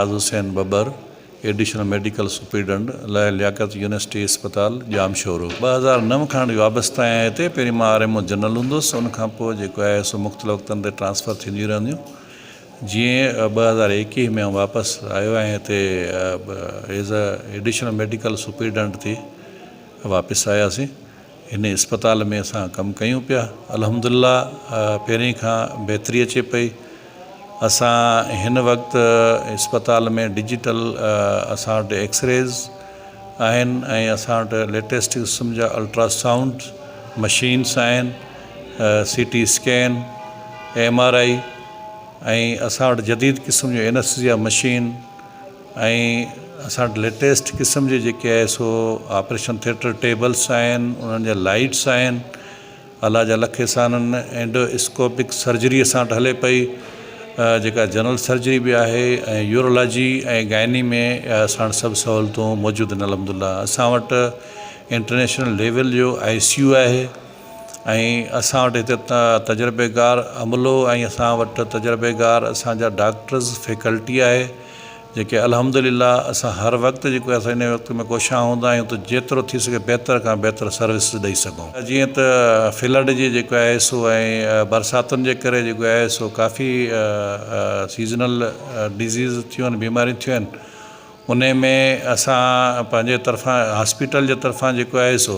Ayaz Hussain Babar, additional medical superintendent, لائق Liaquat university اسپتال، ڄامشورو. ٻه هزار نو کان اهڙي وابسته آهيان هتي، پهرين مان آر ايم او جنرل هوندس، ان کان پوء جيڪو آهي سو مختلف وقتن تي ٽرانسفر ٿينديون رهنديون، جيئن ٻه هزار ايڪيهه ۾ آئون واپس آيو ۽ هتي ايز ايڊيشنل ميڊيڪل سپريڊنٽ ٿي واپس آياسين. هن اسپتال ۾ اسان ڪم ڪيون پيا الحمدالله پهرين کان بهتري اچي پئي اسان هن وقت اسپتال ۾ ڊجيٽل اسان وٽ ايڪسريز آهن ۽ اسان وٽ ليٽيسٽ قسم جا الٽرا سائونڊ مشينس آهن C T scan M R I ۽ اسان وٽ جديد قسم جون اينسٽيزيا مشين ۽ اسان وٽ ليٽيسٽ قسم جي جيڪي آهي سو آپريشن ٿيٽر ٽيبلس آهن انهن جا لائيٽس آهن الله جا لک احسان آهن اينڊو اسڪوپڪ سرجري اسان وٽ هلي پئي جيڪا جنرل سرجري بي آهي ۽ يورولاجي ۽ گائني ۾ اسان وٽ سڀ سهولتون موجود آهن الحمد الله اسان وٽ انٽرنيشنل ليول جو آئي سي يو آهي ۽ اسان وٽ هتي تجربيڪار عملو ۽ اسان وٽ تجربيڪار اسانجا ڊاڪٽرز فيڪلٽي آهي جيڪي الحمدلله اسان هر وقت جيڪو اسان ان وقت ۾ ڪوشان هوندا آهيون ته جيترو ٿي سگهي بهتر کان بهتر سروسز ڏئي سگهون جيئن ته فلڊ جي جيڪو آهي سو ۽ برساتن جي ڪري جيڪو آهي سو ڪافي سيزنل ڊزيز ٿيون آهن بيماريون ٿيون آهن ان ۾ اسان پنهنجي طرفان هاسپيٽل جي طرفان جيڪو آهي سو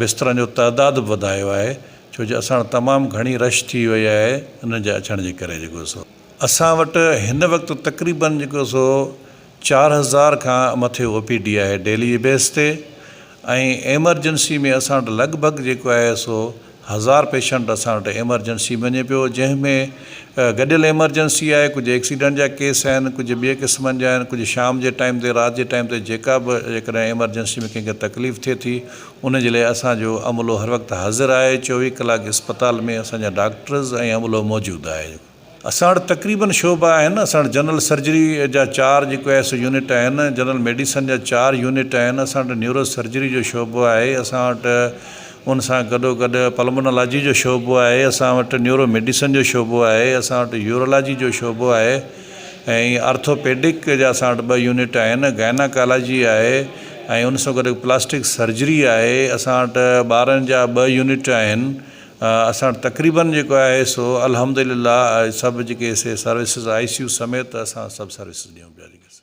بسترن جو تعداد به وڌايو آهي ڇو جو اسان وٽ تمام گهڻي رش ٿي وئي آهي انهن جي اچڻ جي ڪري جيڪو سو اسان وٽ هن وقت تقريبن جيڪو سو چار هزار کان مٿي او پي ڊي آهي ڊيلي جي بيس تي ۽ ايمرجنسي ۾ اسان وٽ لڳ ڀڳ جيڪو آهي سو هزار پيشنٽ اسان وٽ ايمرجنسي ۾ وڃي پيو جنهن ۾ گڏيل ايمرجنسي آهي ڪجهه ايڪسيڊنٽ جا ڪيس آهن ڪجهه ٻئي قسمن جا آهن ڪجهه شام جي ٽائيم تي رات جي ٽائيم تي جيڪا به جيڪڏهن ايمرجنسي ۾ ڪنهن کي تڪليف ٿئي ٿي ان جي لاء اسان جو عملو هر وقت حاضر آهي چوويهه ڪلاڪ اسپتال ۾ اسان جا ڊاڪٽرز ۽ عملو موجود آهي اسان وٽ تقريبن شعبا آهن، اسان وٽ جنرل سرجري جا چار جيڪو آء ايس او يونٽ آهن، جنرل ميڊيسن جا چار يونٽ آهن، اسان وٽ نيورو سرجري جو شعبو آهي، اسان وٽ ان سان گڏو گڏ پلمونالاجي جو شعبو آهي، اسان وٽ نيورو ميڊيسن جو شعبو آهي، اسان وٽ يورولاجي جو شعبو آهي ۽ آرٿوپيڊڪ جا اسان وٽ ٻه يونٽ آهن، گائناڪالاجي آهي ۽ ان سان گڏ پلاسٽڪ سرجري آهي، اسان وٽ ٻارن جا ٻه يونٽ آهن، اسان وٽ تقريبن جيڪو آهي سو الحمد لله سڀ جيڪي سي سروسز آء سي يو سميت اسان سڀ سروسز ڏيون پيا جيڪي سي.